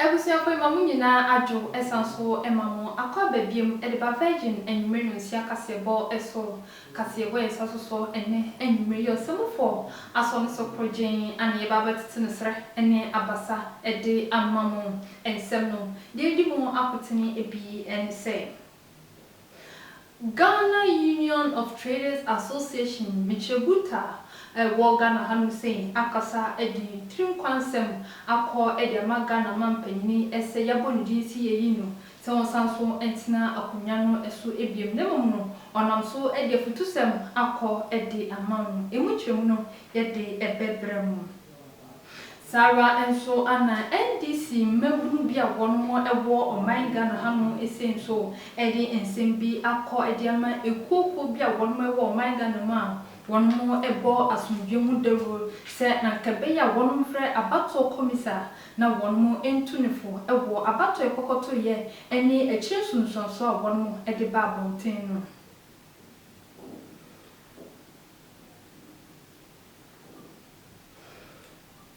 Abusuafoɔ yi ma mo nyinaa adwo san so ma mo akɔ aba biom de ba Virgin anwummerɛ no nsia kaseɛbɔ so. Kaseɛbɔ yɛ nsa so so ɛnnɛ anwummerɛ yi Ɔsɛmufoɔ asɔ no so korɔgyenn a na yɛba abɛtete no serɛ ne abasa de ama mo. Nsɛm no deɛ ɛdi mu akotene bi ne sɛ. Ghana Union of Traders Association Michebuta a ɛwɔ Ghana ha nom sei akasa de ne tirim kwa nsɛm akɔ de ama Ghana manpanyini sɛ yɛabɔ ne din sɛ yɛyi no sɛ ɔnsan so ntena akonwa no so biom na mmom no ɔnam so de afutusɛm akɔ de ama no. Ɛmu nkyerɛmu no yɛde bɛbrɛ mo. Saa ara nso na NDC mmabunu bi a wɔnom wɔ ɔman Ghana hanom sei nso de nsɛm bi akɔ de ama ekuo kuo bi a wɔnom wɔ ɔman Ghana mu a wɔnom bɔ asomdwoeɛ mu dawuro sɛ anka ɛbɛyɛ a wɔnom frɛ abatoɔ kɔmisa na wɔnom ntu no fo wɔ abatoɔ kɔkɔtoeɛ ɛne akyire nsunsuansoɔ a wɔnom de ba abɔnten no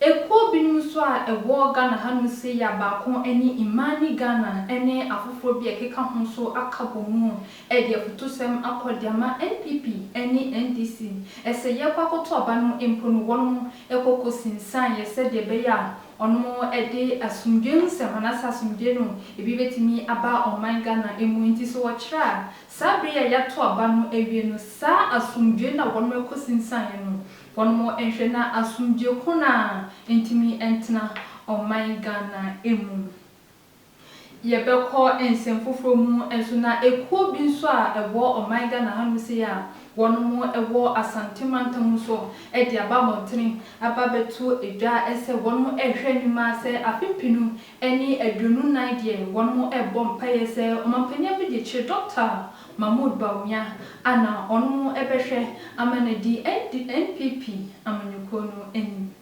Ekuo binom nso a ɛwɔ Ghana hanom sei a baako ne Imani Ghana ne afoforɔ bi a ɛkeka ho nso aka bɔ mu de afutusɛm akɔ de ama NPP ne NDC sɛ yɛkɔ akɔto aba no mpo no wɔnom kɔ kɔsinsan yɛ sɛdeɛ ɛbɛyɛ a wɔnom de asomdwoeɛ hu sɛ wɔn asa asomdwoeɛ no ebi bɛtumi aba ɔman Ghana mu. Nti sɛ wɔkyerɛ a Saa bere a yɛato aba no awie no, saa asomdwoe no a wɔnom kosinsanee no, wɔnom nhwɛ na asomdwoe ko no ara ntumi ntena ɔman Ghana mu. Yɛbɛkɔ nsɛm foforɔ mu nso na ekuo bi nso a ɛwɔ ɔman Ghana ha nom sei a wɔnom wɔ Asante mantam nso de aba abɔntene aba abɛto dwa sɛ wɔnom rehwɛ anim ara sɛ afe pinu ɛne aduonu nnan deɛ wɔnom ɛɛbɔ mpaeɛ sɛ ɔmampanin Abidie kyere Dɔkta Mahmood Bawumia a na ɔnom ɛbɛhwɛ ama no adi NNPP amanyɔkuo no anim.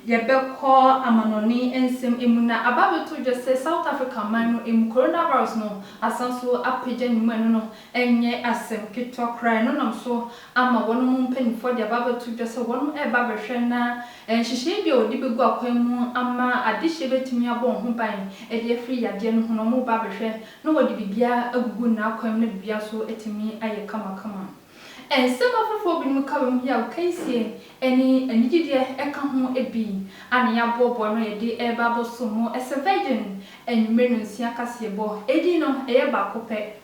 Yɛbɛkɔ amanɔne nsɛm mu na aba abɛto dwa sɛ South Africa man no mu Coronavirus no asan so apagya ne mu ɛno no Ɛnyɛ asɛm ketewa koraa, ɛno nam so ama wɔnom mpaninfoɔ de aba abɛto dwa sɛ wɔnom ɛreba abɛhwɛ na nhyehyɛeɛ bi a wɔde bɛgu akwan mu ama adehyeɛ bɛtumi abɔ wɔn ho ban de afiri yadeɛ no ho no, wɔreba abɛhwɛ na wɔde biribiara agugu n'akwan mu na biribiara nso atumi ayɛ kamakama. Nsɛm afoforɔ binom ka wei ho yi a wɔka yi sie ɛne anigyedeɛ ɛka ho bi a na yɛaboaboa ano a yɛde ɛreba abɛsom mo. Ɛsɛ Virgin anwummere no nsia kaseɛbɔ. Edin no ɛyɛ baako pɛ.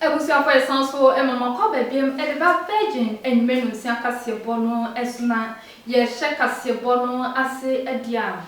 Abusuafo ɛsan so ma mo akɔ aba biam de ba Virgin anwumere nonsia kaseɛbɔ no so na yɛhyɛ kaseɛbɔ no ase deɛ a.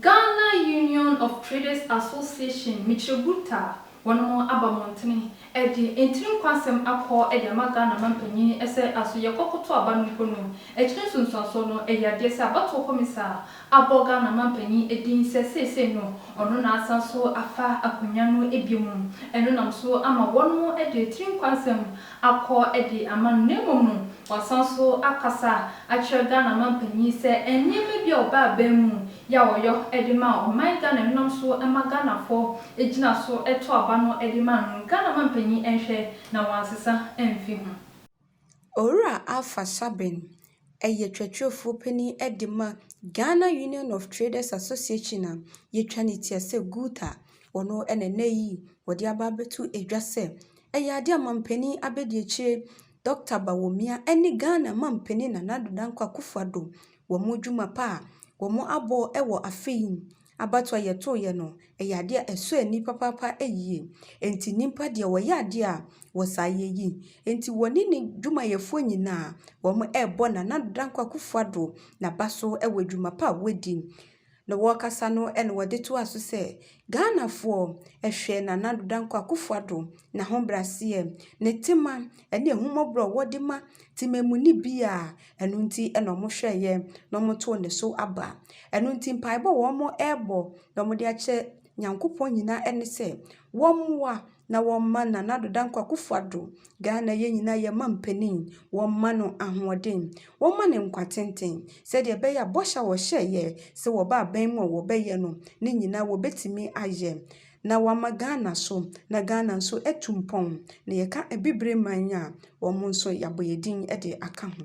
Ghana Union of Traders Association, Mitrebourta, wɔnom aba mmɔntene de ntiri nkwasɛm akɔ de ama Ghana manpanyin sɛ aso yɛkɔ koto aba no mpo no, akyire nsunsuansoɔ no ɛyɛ adeɛ sɛ abatoɔ kɔmisa abɔ Ghana manpanyin din sɛ seesei no ɔno na asan so afa akonwa no bio mu, ɛno nam so ama wɔnom de tiri nkwasɛm akɔ de ama no na mmom no wasan so akasa akyerɛ Ghana mampanyin sɛ nneɛma bi a ɔbaa aban mu yɛ a ɔyɔ de ma ɔman Ghana ɛnenam so ma Ghanafɔ gyina so to aba no de ma no Ghana mampanyin nhwɛ na wansesa amfi ho. Owura Alpha Sabin yɛ twatrɛfoɔ panin de ma Ghana Union of Traders Association a yɛtwa ne ti sɛ GUTA. Ɔno na ɛnnɛ yi wɔde aba abɛto dwa sɛ ɛyɛ adeɛ a mampanin Abedi Akyire, Dɔkta Bawumia ne Ghana mampanin Nana Addo Dankwa Akufo-Addo wɔn dwuma pa a wɔabɔ wɔ afe yi mu Abatoɔ a yɛtoeɛ no, ɛyɛ adeɛ a ɛsɔ ani papaapa yie. Enti nnipa deɛ wɔyɛ adeɛ a wɔ saa yɛ yi. Enti wɔne ne dwumayɛfoɔ nyinaa wɔrebɔ Nana Dankwa Akufo Addo n'aba so wɔ adwuma pa a wadi. Na wɔrekasa no na wɔde toaa so sɛ, Ghanafoɔ hwɛ Nana Addo Dankwa Akufo Addo n'ahobraseɛ, ne tema ɛne ahummɔborɔ a ɔwɔ de ma temamuni biara. Ɛno nti na wɔhwɛeɛ na wɔtoo ne so aba. Ɛno nti mpaebɔ a wɔrebɔ na wɔde akyerɛ Nyankopɔn nyinaa ne sɛ, wɔmmoa na wɔmma Nana Addo Dankwa Akufo Addo, Ghana yɛn nyinaa yɛn mampanin, wɔmma no ahoɔden, wɔmma no nkwa tenten, sɛdeɛ ɛbɛyɛ a bɔhyɛ a wɔhyɛeɛ sɛ wɔba abɛn mu a wɔbɛyɛ no, ne nyinaa wɔbɛtumi ayɛ. na wɔama Ghana so, na Ghana nso atu mpɔn, na yɛka Abibire man a, wɔn nso yɛabɔ yɛn din de aka ho.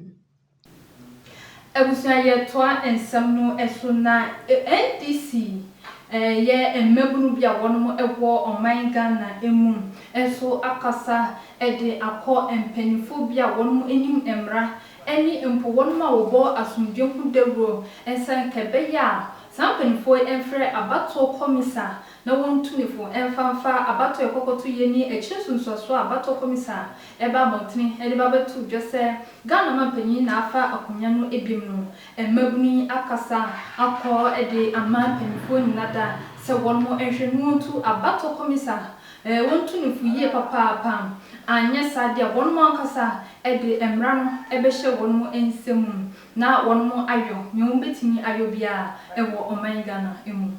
Abusua yɛtoa nsɛm no so na NDC yɛ mmabunu bi a wɔnom wɔ ɔman Ghana mu nso akasa de akɔ mpaninfoɔ bi a wɔnom nim mmara ne mpo wɔnom a wɔbɔ asomdwoe ho dawuro nsa nka ɛbɛyɛ a saa mpaninfoɔ yi mfrɛ abatoɔ kɔmisa na wɔntu ne fo mfa mfa abatoɔ a ɛkɔkɔto yɛ ne akyire nsunsuasoɔ a abatoɔ kɔmisa ɛba abɔntene de ba bɛto dwa sɛ Ghana manpanin na afa akonwa no biom no mmabunu yi akasa akɔ de ama mpaninfoɔ nyina da sɛ wɔnom nhwɛ na wɔntu abatoɔ kɔmisa Ɛɛ, wontu no fo yie papaapa, anyɛ saa deɛ a wɔnom ankasa de mmara no bɛhyɛ wɔnom nsa mu na wɔnom ayɔ nea wɔbɛtumi ayɔ biara wɔ ɔman Ghana mu.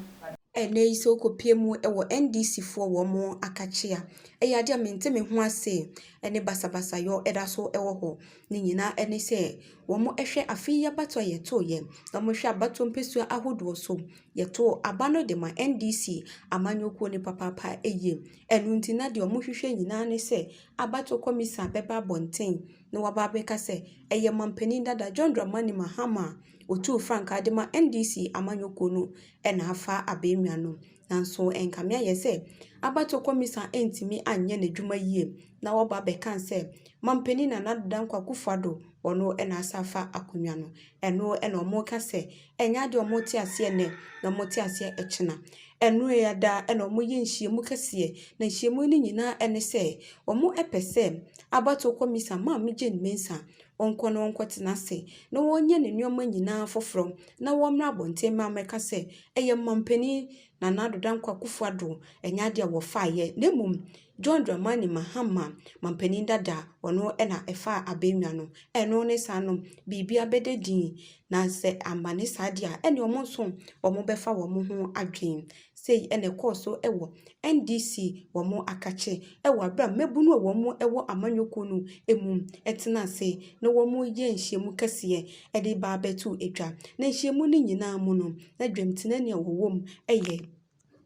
Ɛnnɛ yi sɛ wokɔpue mu wɔ NDC foɔ wɔn akakyea, ɛyɛ adeɛ a mente me ho ase ne basabasayɔ da so wɔ hɔ. Ne nyinaa ne sɛ wɔhwɛ afe yi abatoɔ a yɛtoeɛ, na wɔhwɛ abatoɔ mpɛsua ahodoɔ so yɛtoo aba no de ma NDC amanyɔkuo no papaapa yie. Ɛno nti na deɛ wɔhwehwɛ nyinaa ne sɛ abatoɔ kɔmisa bɛba abɔnten na waba abɛka sɛ ɛyɛ mampanin dada John Dramani Mahama a ɔtuu frankaa de ma NDC amanyɔkuo no na afa abɛnwa no. Nanso ɛnkame ayɛ sɛ abatoɔ kɔmisa ntumi anyɛ n'adwuma yie na waba abɛka sɛ mampanin Nana Addo Dankwa Akufo-Addo wɔn na asa afa akonnwa no. Ɛno na wɔka sɛ, ɛnyɛ adeɛ a wɔte aseɛ nnɛ na wɔte aseɛ ɛkyena. Ɛno ya daa na wɔyɛ nhyiamu kɛseɛ, na nhyiamu no nyinaa ne sɛ, wɔpɛ sɛ abatoɔ kɔmisa Maame Jane Mensah ɔnkɔ na ɔnkɔtena ase na ɔnyɛ ne nneɛma nyinaa foforɔ na ɔmmra abɔnten ma mmɛka sɛ, ɛyɛ Mampanin Nana Addo Dankwa Akufo-Addo, ɛnyɛ adeɛ a wɔfaeɛ na mmom John Dramani Mahama, manpanin dada, ɔno na ɛfaa abannwa no. Ɛno ne saa no, biribi abɛda dinn. Na sɛ amma ne saa deɛ a, ɛnneɛ wɔn nso wɔbɛfa wɔn ho adwene. Sei na ɛkɔɔ so wɔ NDC wɔn akakye wɔ aberɛ a mmabunu a wɔwɔ amanyɔkuo no mu tena ase na wɔyɛ nhyiamu kɛseɛ de reba abɛto dwa. Na nhyiamu no nyinaa mu no, na dwamtenani a ɔwɔ mu yɛ.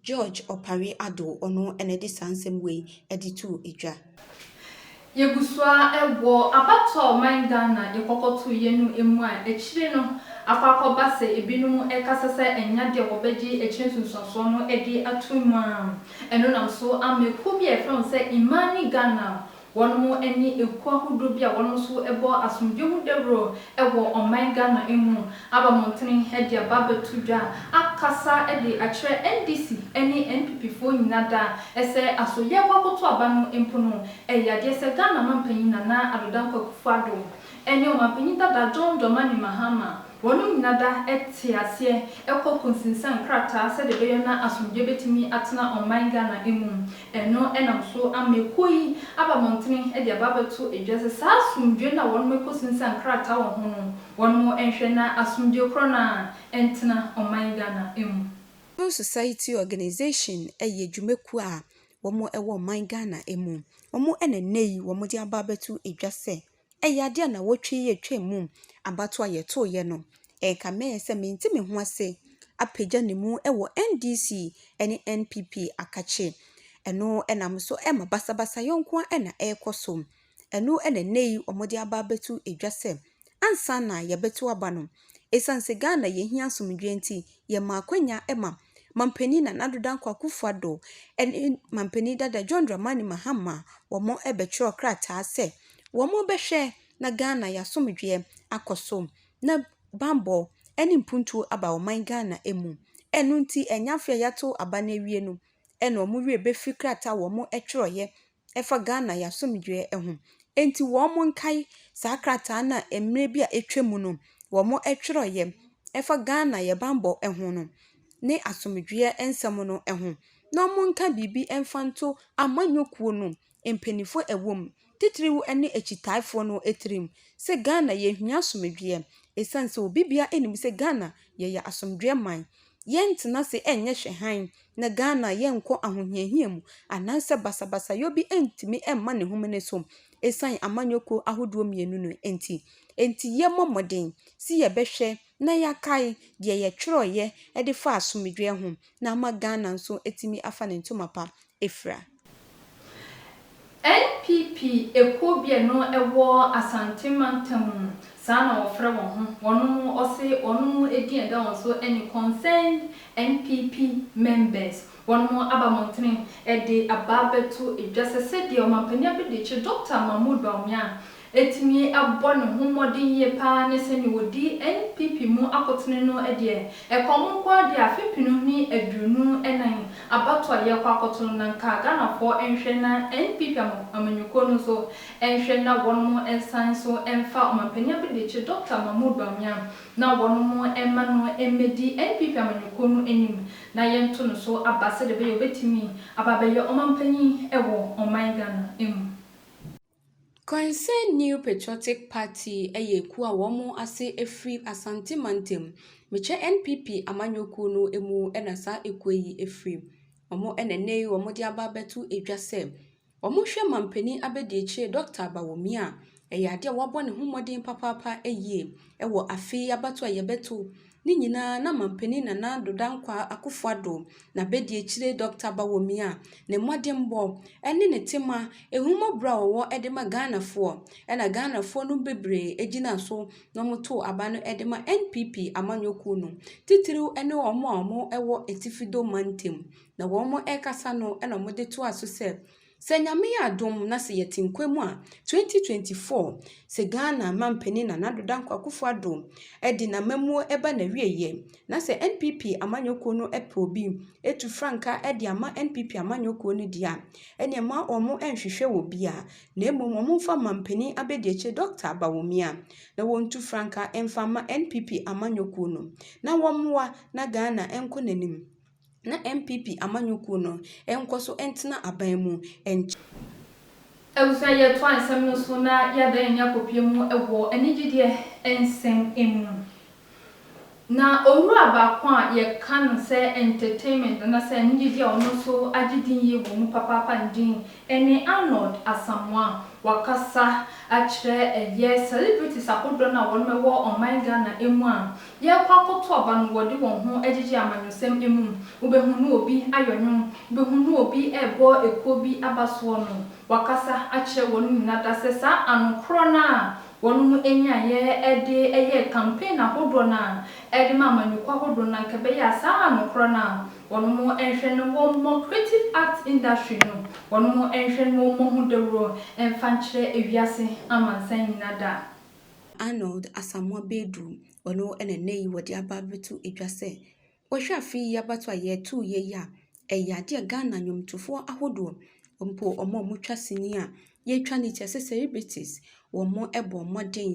George Opare Addo, ɔno na ɛde saa nsɛm wei ɛde too dwa. Yɛgu so ara wɔ abatoɔ a ɔman Ghana de kɔkɔtoeɛ no mu a akyire no akɔ akɔba sɛ ebinom rekasa sɛ ɛnya deɛ wɔbɛgye akyire nsunsuansoɔ no de atom mu a ɛno nam so ama ekuo bi a yɛfrɛ wɔn sɛ Imani Ghana Wɔnom ɛne ekuo ahodoɔ bi a wɔnom nso bɔ asomdwoe ho dawuro wɔ ɔman Ghana mu aba mmɔntene de aba abɛto dwa akasa de akyerɛ NDC ne NPP foɔ nyina da sɛ aso yɛɛkɔ akoto aba no mpo no ɛyɛ adeɛ sɛ Ghana manpanyin Nana Addo Dankwa Akufo Addo ne ɔmanpanyin dada John Dramani Mahama wɔnom nyina da te aseɛ kɔ konsinsan nkrataa sɛdeɛ ɛbɛyɔ na asomdwoe bɛtumi atena ɔman Ghana mu. Ɛno na nso ama ekuo yi aba mmɔntene de aba abɛto dwa sɛ saa asomdwoeɛ no a wɔnom rekɔsinsan nkrataa wɔ ho no, wɔnom nhwɛ na asomdwoeɛ korɔ no ara ntena ɔman Ghana mu. Civil Society Organization yɛ dwumakuo a wɔwɔ ɔman Ghana mu. Wɔn na nnɛ yi wɔde aba abɛto dwa sɛ Ɛyɛ adeɛ a nawɔtwe yi atwam mu abatoɔ a yɛtoeɛ no, ɛka mɛyɛ sɛ mente me ho ase apagya ne mu wɔ NDC ne NPP akakye. Ɛno na mo so ɛma basabasayɔ nko ara na ɛrekɔ so. Ɛno na ɛnnɛ yi wɔde aba abɛto dwa sɛ ansa na yɛbɛto aba no, Esiane sɛ Ghana yɛhia asomdwoeɛ nti, yɛmaa akwanya ma Mampanin Nana Addo Dankwa Akufo Addo ne Mampanin Dada John Dramani Mahama wɔbɛtwerɛɛ krataa sɛ wɔbɛhwɛ na Ghana y'asomdwoeɛ akɔ so na bammɔ ne mpuntuo aba ɔman Ghana mu. Ɛno nti ɛnyɛ afei a yɛato aba no awie no na wɔn werɛ bɛfiri krataa a wɔtwerɛeɛ ɛfa Ghana yɛn asomdwoeɛ ho. Enti wɔnkae saa krataa no a mmerɛ bi a atwa mu no wɔtwerɛeɛ ɛfa Ghana yɛn bammɔ ho no ne asomdwoeɛ nsɛm no ho. Na wɔnka biribi mfa nto amanyɔkuo no mpanimfoɔ a ɛwɔ mu titiriw ne akyitaafoɔ no tirim sɛ Ghana yɛhia asomdwoeɛ ɛsiane sɛ obibiara nim sɛ Ghana yɛyɛ asomdwoeɛ man. Yɛntena ase nyɛ hwɛ hann. na Ghana yɛnkɔ ahohiahia mu anaasɛ basabasayɔ bi ntumi mma ne home no so ɛsiane amanyɔkuo ahodoɔ mmienu no nti. Nti yɛmmɔ mmɔden sɛ yɛbɛhwɛ na yɛakae deɛ yɛtwerɛeɛ de faa asomdwoeɛ ho na ama Ghana nso atumi afa ne ntoma pa afira. NPP ekuo bi a ɛno ɛwɔ Asante mantam mu saa na wɔfrɛ wɔn ho, wɔnom ɔse wɔnom edin a ɛda wɔn so ɛne Concerned NPP Members, wɔnom aba mmɔntene ɛde abaa bɛto dwa sɛ sɛdeɛ Ɔmampanin Abɛdekye Doctor Mahmood Bawumia atumi abɔ ne ho mmɔden yie pa ara ne sɛdeɛ wɔdi NPP mu akotene no deɛ, ɛkɔm nko ara deɛ afe pinu ne aduonu nan abatoɔ a yɛrekɔ akɔto no, na nka Ghanafoɔ nhwɛ na NPP amanyɔkuo no nso nhwɛ na wɔnom nsan nso mfa Ɔmampanin Abadiakyi Dɔkta Mahmood Bawumia na wɔnom mma no mmɛdi NPP amanyɔkuo no anim na yɛnto no so aba sɛdeɛ ɛbɛyɛ a ɔbɛtumi aba abɛyɛ Ɔmampanin wɔ ɔman Ghana mu. Concerned New Patriotic Party yɛ ekuo a wɔn ase firi Asante mantam. Mekyɛ NPP amanyɔ kuo no mu na saa ekuo yi firi. Wɔn na ɛnnɛ yi wɔde aba abɛto dwa sɛ wɔhwɛ manpanin abadiakyire Dɔketa Bawumia. Ɛyɛ adeɛ a wabɔ ne ho mmɔden papaapa yie wɔ afe yi abatoɔ a yɛbɛto. Ne nyinaa na Manpanin Nana Addo Dankwaa Akuffo Addo n'abadiekyire Dɔkta Bawomia ne mmɔdenbɔ ne ne tema ahummɔborɔ a ɔwɔ de ma Ghanafoɔ na Ghanafoɔ nom bebree gyinaa so na wɔtoo aba no de ma NPP amanyɔkuo no titiriw ne wɔn a wɔwɔ Atifi Dome Mantam na wɔrekasa no na wɔde toaa so sɛ Sɛ Nyame yɛ adom na sɛ yɛte nkwa mu a, 2024, sɛ Ghana mampanin Nana Addo Dankwa Akufo Addo de n'amammuo ba n'awieɛ, na sɛ NPP amanyɔ kuo no pɛ obi tu frankaa de ama NPP amanyɔ kuo no deɛ a, ɛneɛ mma wɔn nhwehwɛ wɔ bia, na mmom wɔn mfa mampanin abɛdiakyire Dɔkta Bawumia, na wɔn ntu frankaa mfa mma NPP amanyɔ kuo no, na wɔn mmoa na Ghana nkɔ n'anim. na NPP amanyɔkuo no nkɔ so ntena aban mu nkyɛ. Abusua yɛ toa nsɛm no so na yɛ da yɛn ani akɔpie mu wɔ anigyedeɛ nsɛm mu. Na owura baako a yɛ ka no sɛ entertainment ana sɛ anigyedeɛ a ɔno nso agye din yie wɔ mu papaapa no din ɛne Arnold Asamoah. Wakasa akyerɛ ɛyɛ celebrities ahodoɔ no a wɔnom wɔ ɔman Ghana mu a Yɛrekɔ akɔto aba no wɔde wɔn ho agyegye amanyɔsɛm mmom, wobɛhunu obi ayɔ nnwom, wobɛhunu obi rebɔ ekuo bi aba soɔ no, wakasa akyerɛ wɔnom nyinaa dasɛ saa ano korɔ no a wɔnom nyaeɛ de yɛɛ campaign ahodoɔ no a de ma amanyɔkuo ahodoɔ no anka ɛbɛyɛ a saa ano korɔ no a wɔnom nhwɛ no wɔmmɔ creative arts industry no wɔnom nhwɛ no wɔmmɔ ho dawuro mfa nkyerɛ wiase amansan nyinaa da. Arnold Asamoah Badu, ɔno na nnɛ yi wɔde aba abɛto dwa sɛ, wohwɛ afe yi abatoɔ a yɛtoeɛ yi a, ɛyɛ adeɛ a Ghana nnwomtofoɔ ahodoɔ mpo wɔn a wɔtwa sini a yɛtwa no kyɛ sɛ celebrities, wɔbɔɔ mmɔden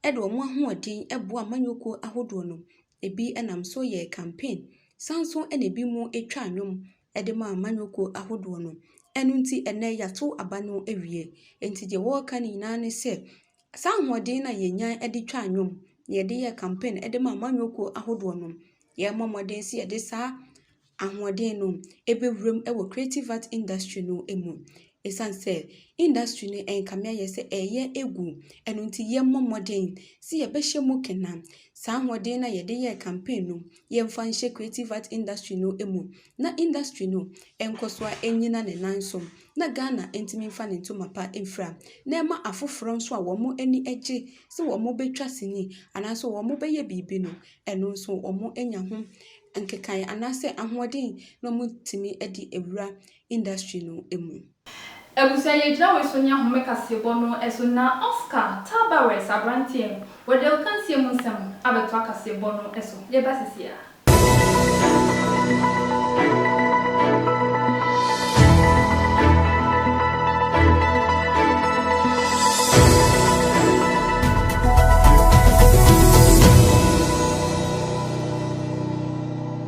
de wɔn ahoɔden boaa amanyɔkuo ahodoɔ no. Ɛbi nam so yɛɛ campaign, san nso na ɛbinom twaa nnwom de ma amanyɔkuo ahodoɔ no. Ɛno nti ɛnnɛ yɛato aba no awie. Nti deɛ wɔreka no nyinaa ne sɛ, saa ahoɔden no a yɛnya de twa nnwom, na yɛde yɛ campaign de ma amanyɔkuo ahodoɔ no, yɛrebɔ mmɔden sɛ yɛde saa ahoɔden no bɛwura mu wɔ creative art industry no mu. Ɛsiane sɛ industry no ɛnkame ayɛ sɛ ɛreyɛ agu, ɛno nti yɛmmɔ mmɔden sɛ yɛbɛhyɛ mu kena. Saa ahoɔden no a yɛde yɛɛ campaign no, yɛmfa nhyɛ creative art industry no mu na industry no nkɔ so ara nnyina ne nan so na Ghana ntumi mfa ne ntoma pa mfira na ɛma afoforɔ nso a wɔn ani gye sɛ wɔbɛtwa sini anaasɛ wɔbɛyɛ biribi no, ɛno nso wɔanya ho nkekaeɛ anaasɛ ahoɔden na wɔatumi de awura industry no mu. Abusua yi gyina wei so ne ahome kaseɛbɔ no so na Oscar Tabarez aberanteɛ wɔde akansie mu nsɛm abɛto akaseɛbɔ no so. Yɛba sesie a.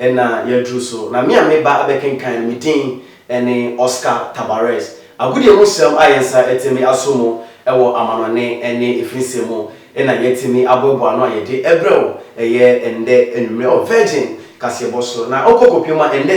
Ɛnna yɛaduru so, na me a meba abɛkenkan no, me din ne Oscar Tabarez. Agodie mu nsɛm a yɛn nsa atumi aso mu wɔ amanɔnne ne afinsɛm mu na yɛatumi aboaboa ano a yɛde rebrɛ wo ɛyɛ ɛnnɛ anwummere wɔ Virgin kaseɛbɔ so. Na wokɔ kɔpem ma ɛnnɛ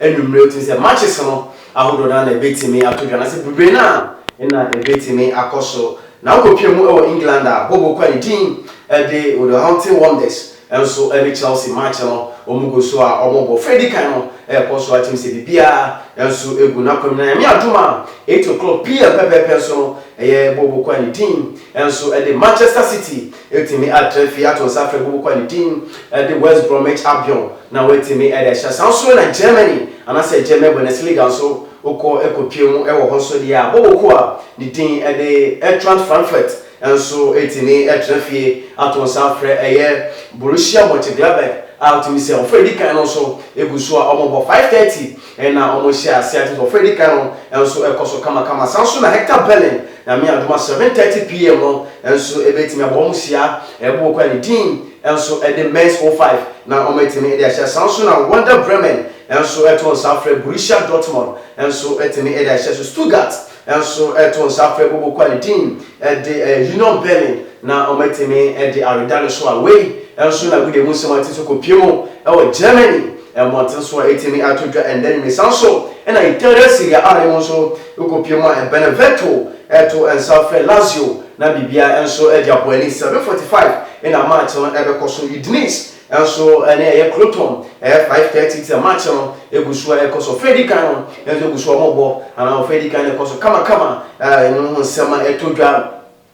anwummere, wotumi sɛ matches no ahodoɔ no ara na ɛbɛtumi ato dwa, anaasɛ bebree no ara na ɛbɛtumi akɔ so. Na wokɔpem mu wɔ England a, bɔbɔkuo a ne din de Wolverhampton Wonders Nso ɛne Chelsea match no wɔn gu so a wɔn bɔ fɛ dikan no ɛkɔ so atim sɛ biribiara nso gu n'akwam na Nyame adom a eight o'clock PM pɛpɛɛpɛ nso no ɛyɛ Bobo Kwa ne din nso ɛde Manchester City atumi atra fie ato nsa afrɛ Bobo Kwa ne din ɛde West Bromwich Albion na watumi ɛde ahyɛ saa nso na Germany anasɛ German Bundesliga nso wokɔ ɛkɔ pie mu ɛwɔ hɔ nso deɛ a Bobo Kwa ne din ɛde Eintracht Frankfurt Nso etumi tena fie ato nsa afrɛ. Ɛyɛ Borussia Mönchengladbach a wotumi sɛ ɔfrɛ a edi kan no nso gu so a wɔbɔ five thirty na wɔhyɛ ase a kyerɛ sɛ ɔfrɛ a edi kan no nso kɔ so kamakama. Saa ara nso na Hertha Berlin Nyame yɛ adom a seven thirty PM no nso ebetumi abɔ wɔn hyia ɛbɔ okuo a ne din nso de Mainz o five na wɔatumi de ahyɛ. Saa ara nso na Werder Bremen nso to nsa frɛ Borussia Dortmund nso tumi de ahyɛ. So Stuttgart nso to nsa frɛ Bobo Kwali team de Union Berlin na wɔatumi de aweda no so a wei nso na agudeɛ mu nsɛm ate so kɔpue mu wɔ Germany mmɔnten so a ɛtumi ato dwa ɛnnɛ anwummerɛ. Saa nso na Italia Serie A no mu nso kɔpue mu a Benevento to nsa frɛ Lazio na biribiara nso de abɔ ani. 7:45 na match no bɛkɔ so. Udinese Nso ɛnɛ ɛyɛ Klotɔn, ɛyɛ five thirty ti a match no egu so a ɛkɔ so. Ɔfɛ edi kan no nso egu so a wɔn bɔ anaa ɔfɛ edi kan no ɛkɔ so kamakama a ɛno ho nsɛm a ɛtɔ dwa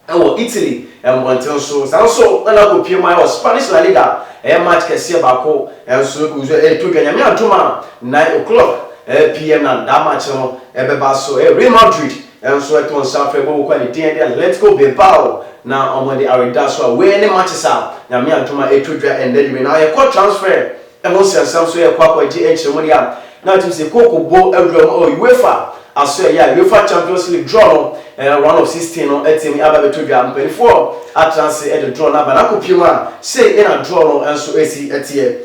ɛwɔ Italy mmɔnten so. Saa nso ɛna akɔ pue mu a ɛwɔ Spanish La Liga ɛyɛ match kɛseɛ baako nso egu so a ɛretɔ dwa. Nyame adom a nine o'clock pm na daa match no ɛbɛba so. Ɛyɛ Real Madrid Nanso ɛtɔ nsa afra ɛbɔ bɔkɔ a ne din de Atletico Bilbao na wɔn de awedaso a wei ne matches a Nyame adom a ɛtwa dwa ɛnnɛ de wei na yɛ kɔ transfer ɛho nsɛmsɛm so yɛ kɔ akɔ agye nkyerɛmu deɛ a na atim sɛ kɔ kɔ bɔ awura mu ɛwɔ UEFA aso ɛyɛ a UEFA Champions League draw no ɛɛ round of 16 no atimi aba bɛtɔ dwa mpanifoɔ atena ase ɛde draw no aba na akɔ pie mu a sei ɛna draw no nso ɛsi ɛteɛ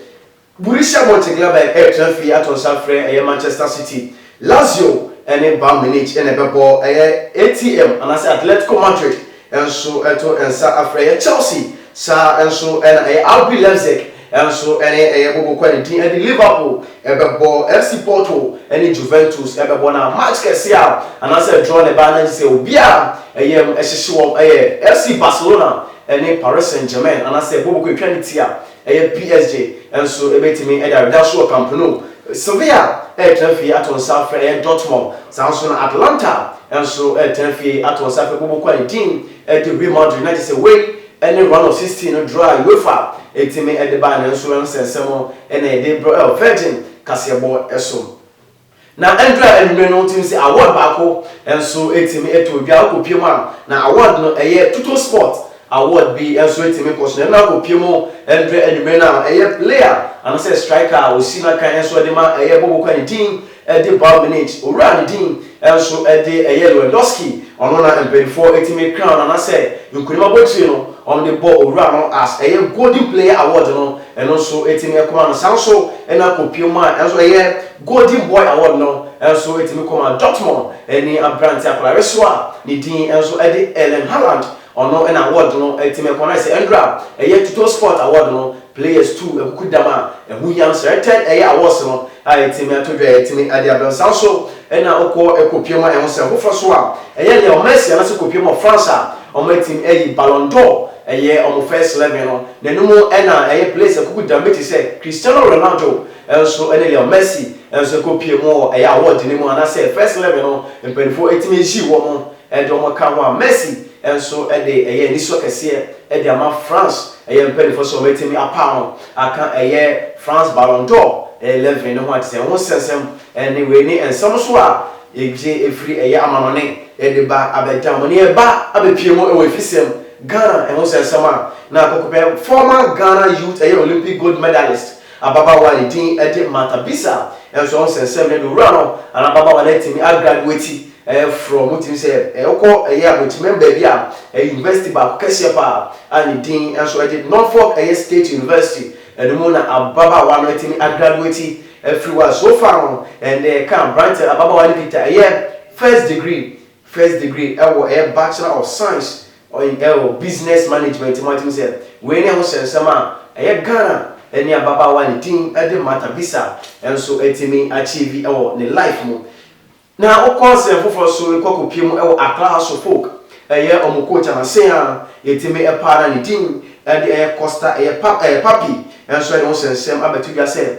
Borussia Mönchengladbach retra fie ato nsa afrɛ ɛyɛ Manchester City, Lazio ne Bayern Munich na ɛbɛbɔ, ɛyɛ ATM anaasɛ Atletico Madrid nso to nsa afrɛ ɛyɛ Chelsea, saa ara nso na ɛyɛ RB Leipzig nso ne ɛyɛ Bobo Ko a ne din de Liverpool bɛbɔ, FC Porto ne Juventus bɛbɔ na match kɛse a anaasɛ draw na ɛbaa na gye sɛ obiara yam hyehye wɔn yɛ FC Barcelona ne Paris Saint-Germain anaasɛ Bobo Ko twa ne ti a Ɛyɛ psg nso bɛtumi de aweda so wɔ Camp Nou. Sevilla retena fie ato nsa afrɛ ɛyɛ Dortmund. Saa ara nso na Atalanta nso retena fie ato nsa afrɛ Bobo Kouyate de Real Madrid. Na kyerɛ sɛ wei ne Round of 16 no draw a Uefa tumi de bae no nso. Ɛno sɛ nsɛm na yɛde rebrɛ wɔ Virgin kaseɛbɔ so. Na ɛndu a anwummere no wotumi sɛ award baako nso tumi to dwa. Wokɔpue mu a, na award no ɛyɛ Tuto Sport award bi nso tumi kɔ so. Na ɛno na wokɔpue mu mprɛ anwummere no a, ɛyɛ player anaasɛ striker a ɔsi no akan nso de ma. Ɛyɛ Boboka ne din de Bayern Munich. Owura ne din nso de ɛyɛ Lewandowski. Ɔno na mpanimfoɔ tumi crown no anaasɛ nkunim abotire no wɔn de bɔ owura no as ɛyɛ Golden Player award no, ɛno nso tumi kɔma no. Saa nso na kɔpue mu a nso ɛyɛ Golden Boy Award no nso tumi kɔ ma Dortmund ni aberante akwadaa resoa a ne din nso de Erling Haaland. Ɔno na award no tumi kɔ anaasɛ ɛndora a ɛyɛ Tuttosport Award no players tu akukudam a ɛho hia no selected ɛyɛ awards no a ɛtumi ato dwa a ɛtumi de abrɛ no. Saa nso na wokɔ kɔpue ma ɛho sɛ foforɔ so a ɛyɛ Leo Messi anaasɛ kɔpue ma France a wɔatumi ayi Ballon d'Or ɛyɛ wɔn first eleven no. N'anim na ɛyɛ players akukudam bi te sɛ Cristiano Ronaldo, nso ne Leo Messi nso kɔpue mu wɔ ɛyɛ award no mu anaasɛ First Eleven no mpaninfoɔ tumi yi wɔn de wɔn ka ho a Messi nso de ɛyɛ anisɔ kɛseɛ de ama France ɛyɛ mpaninfoɔ sɛ wɔbɛtumi apaw no aka ɛyɛ France Ballon d'Or Eleven no ho a te sɛ ho sɛnsɛm ne wei ne nsɛm nso a yɛgye ɛfiri ɛyɛ amanɔne de ba abɛda mo ne ɛba abɛpue mu wɔ afisɛm Ghana ho sɛnsɛm a na kɔkɔpɛ former Ghana youth ɛyɛ Olympic gold medalist Ababaawa a ne din de Martha bisaa nso ɔho sɛ, Sɛ mede owura no anaa ababaawa no atumi agraduati, ɛreforɔ mo tirim sɛ ɛrekɔ ɛyɛ abɔtiman baabi a ɛyɛ yunivɛsiti baako kɛseɛ pa ara a ne din nso de Norfolk ɛyɛ State University no mu na ababaawa no atumi agraduati afiri hɔ a? So far no, ɛnde ɛka aberanteɛ no ababaawa no kita ɛyɛ First Degree First degree ɛwɔ ɛyɛ Bachelor of Science in ɛwɔ Business Management mu atim sɛ wei ne ɛho hyɛ nsɛm a ɛyɛ Ghana ɛne ababaawa ne din ɛde Martha Bisa nso atumi achieve ɛwɔ ne life mu na wokɔ nsɛm foforɔ so rekɔ kɔ pie mu ɛwɔ Accra House of Folk ɛyɛ ɔmo coach anasen a yɛtumi ɛpaa no a ne din ɛde ɛyɛ Costa ɛyɛ pa ɛɛ Papi nso ɛde ho hyɛ nsɛm abɛto dwa sɛ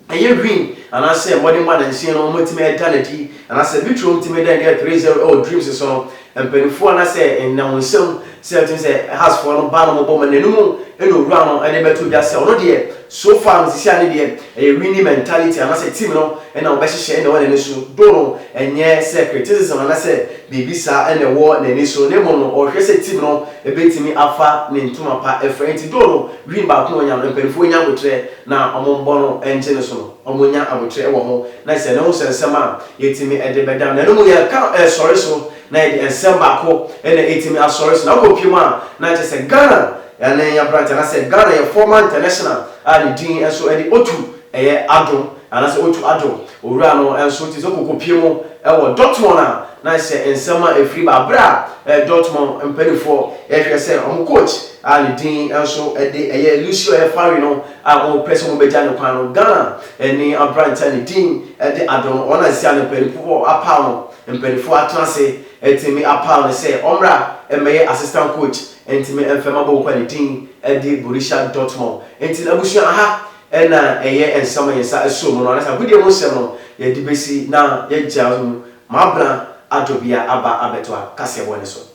Ɛyɛ win anaasɛ mmɔden ma dansin no wɔatumi ada no adi anaasɛ literal wɔtumi da no adi three zero ɛwɔ dreams so no mpaninfoɔ anaasɛ nnamusɛm sɛ wɔtumi sɛ has foɔ no ba no mɔbɔ ma n'anum ɛna owura no ɛde bɛto dwa sɛ ɔno deɛ so far no sisi a ne deɛ ɛyɛ winning mentality anaasɛ team no ɛna wɔbɛhyehyɛ ɛna ɛwɔ n'ani so do no ɛnyɛ sɛ criticism anaasɛ biribi saa ɛna ɛwɔ n'ani so na mmom no ɔhwɛ sɛ team no ɛbɛtumi afa ne ntoma pa ɛfira nti do no win baako na wɔnya no mpaninfoɔ nya abotrɛ na wɔbɔ no gye no so no, wɔnya aboterɛ wɔ ho, na sɛ nahu sɛ nsɛm a yɛtumi de bɛdam na ɛno mu yɛka sɔre so na yɛde nsɛm baako na ɛtumi asɔre so na akɔ pie mu a, na kyerɛ sɛ Ghana yɛne aberanteɛ anaasɛ Ghana yɛ former international a ne din nso de Otu ɛyɛ Adom anaasɛ Otu Adom owura no nso nti sɛ ɔkɔkɔ pie mu wɔ Dortmund a, na sɛ nsɛm a ɛfiri ba berɛ a Dortmund mpaninfoɔ ɛhwɛ sɛ wɔn coach a ne din nso de ɛyɛ Lucio Efari no a wɔpɛ sɛ wɔbɛgya no kwan no, Ghana ne aberante a ne din de Addo no, wɔn a seesei a no mpaninfoɔ apaw no, mpaninfoɔ atena ase atumi apaw no sɛ ɔmmra mmɛyɛ assistant coach ntumi mfa mma bɔɔlkuo a ne din de Borussia Dortmund. Enti no abusua, ha na ɛyɛ nsɛm a yɛn nsa sɔ mu no, anaasɛ agodie mu nsɛm no yɛde bɛsi na yɛagya mu ma Abena Addo bia aba abɛtoa kaseɛbɔ no so.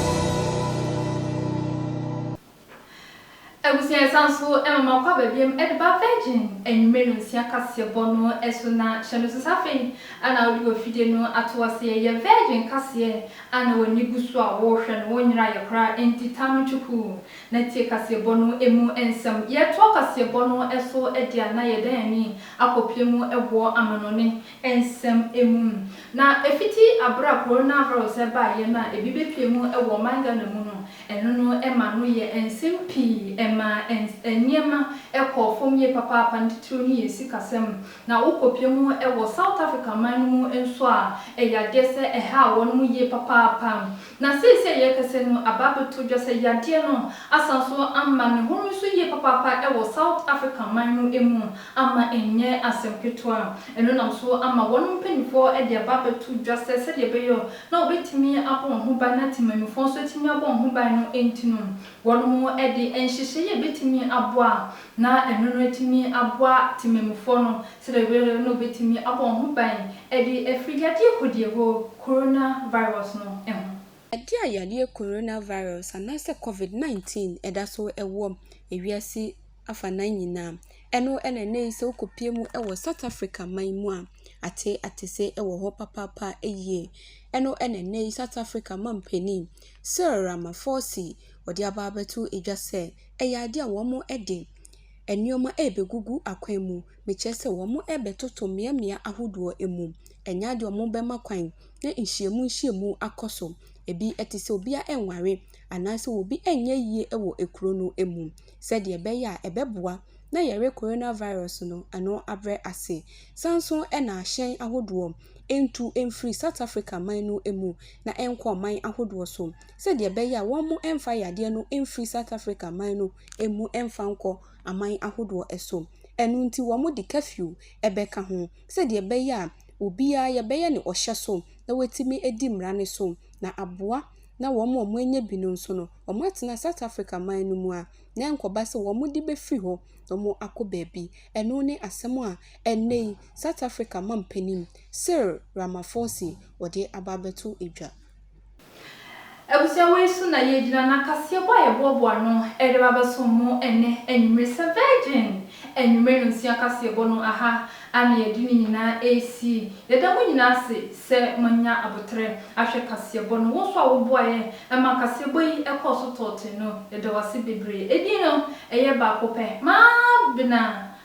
Abusua a ɛsan so ma makɔ aba biom de ba Virgin anwummere no nsia kaseɛbɔ no so na hyɛ no so sɛ afei na wode w'afidie no ato aseɛ yɛ Virgin kaseɛ a na w'ani gu so a worehwɛ no wonyeraeɛ koraa enti taa no kyukuu na tie kaseɛbɔ no mu nsɛm yɛretoa kaseɛbɔ no so deɛ a na yɛdan ani akɔpue mu boɔ amanɔne nsɛm mu. Na fitsi aber a coronavirus baeɛ no a ebi bepue mu wɔ ɔman Ghana mu no, ɛno no ma no yɛ nsɛm pii, ɛmaa nneɛma kɔɔ fam yie papaapa, ne titiriw no yɛ sikasɛm. Na wokopue mu wɔ South Africa man no mu nso a, ɛyɛ adeɛ sɛ ɛhaa wɔnom yie papaapa. Na seesei a yɛrekasa no, aba abɛto dwa sɛ yadeɛ no asan nso ama ne ho no so yie papaapa wɔ South Africa man no mu, ama ɛnyɛ asɛm ketewa. Ɛno nam so ama wɔn mpanimfoɔ de aba abɛto dwa sɛ sɛdeɛ ɛbɛyɛ na wɔbɛtumi abɔ wɔn ho ban na temanmufoɔ nso atumi abɔ wɔn ho ban no nti no, wɔnom de nhyehyɛeɛ a ɛbɛtumi aboa na ɛno no atumi aboa temanmufoɔ no Serewer no betumi abɔ wo ho ban de afiri yadeɛ kodie ho, coronavirus, no ho. Ade a yadeɛ coronavirus anaasɛ covid 19 da so wɔ wiase afanan nyinaa ɛno na ɛnnɛ yi sɛ wokɔpue mu wɔ South Africa man mu a, ate atese wɔ hɔ papaapa yie. Ɛno na ɛnnɛ yi South Africa mampanin Cyril Ramaphosi ɔde aba abɛto dwa sɛ ɛyɛ adeɛ a wɔde Nnoɔma ɛɛbɛgugu akwan mu, mekyerɛ sɛ wɔn ɛɛbɛtoto mmeammea ahodoɔ mu. Ɛnyɛ adeɛ a wɔbɛma kwan na nhyiamu nhyiamu akɔ so. Ɛbi ɛte sɛ obiara ɛɛnware anaa sɛ obi ɛɛnyɛ yie wɔ kuro no mu sɛdeɛ ɛbɛyɛ a ɛbɛboa na yareɛ Corona Virus no ano abrɛ ase. Sane nso na ahyɛn ahodoɔ ɛntu mfiri South Africa man no mu na ɛnkɔ aman ahodoɔ so sɛdeɛ ɛbɛyɛ a wɔn ɛmfa yadeɛ no mfiri South Africa man no mmu mfa nkɔ aman ahodoɔ so. Ɛno nti wɔde curfew bɛka ho sɛdeɛ ɛbɛyɛ a obiara yɛbɛyɛ no ɔhyɛ so na watumi adi mmara no so na aboa na wɔn a wɔanya bi no nso no wɔatena South Africa man no mu a na ɛnkɔba sɛ wɔde bɛfiri hɔ na wɔn akɔ baabi. Ɛno ne asɛm a ɛnnɛ yi South Africa mampanin Cyril Ramaphosi ɔde aba abɛto dwa. Abusua wei so na yɛgyina na kaseɛbɔ a yɛboaboa ano de ba bɛsom mo ɛnnɛ anwummere sɛ Virgin anwummere nonsea kaseɛbɔ no aha a na yɛde ne nyinaa resi. Yɛda mo nyinaa ase sɛ moanya aboterɛ ahwɛ kaseɛbɔ no. Wo nso a woboaeɛ ma kaseɛbɔ yi kɔɔ so tɔɔtee no, yɛda wo ase bebree. Edin no, ɛyɛ baako pɛ, Mabena.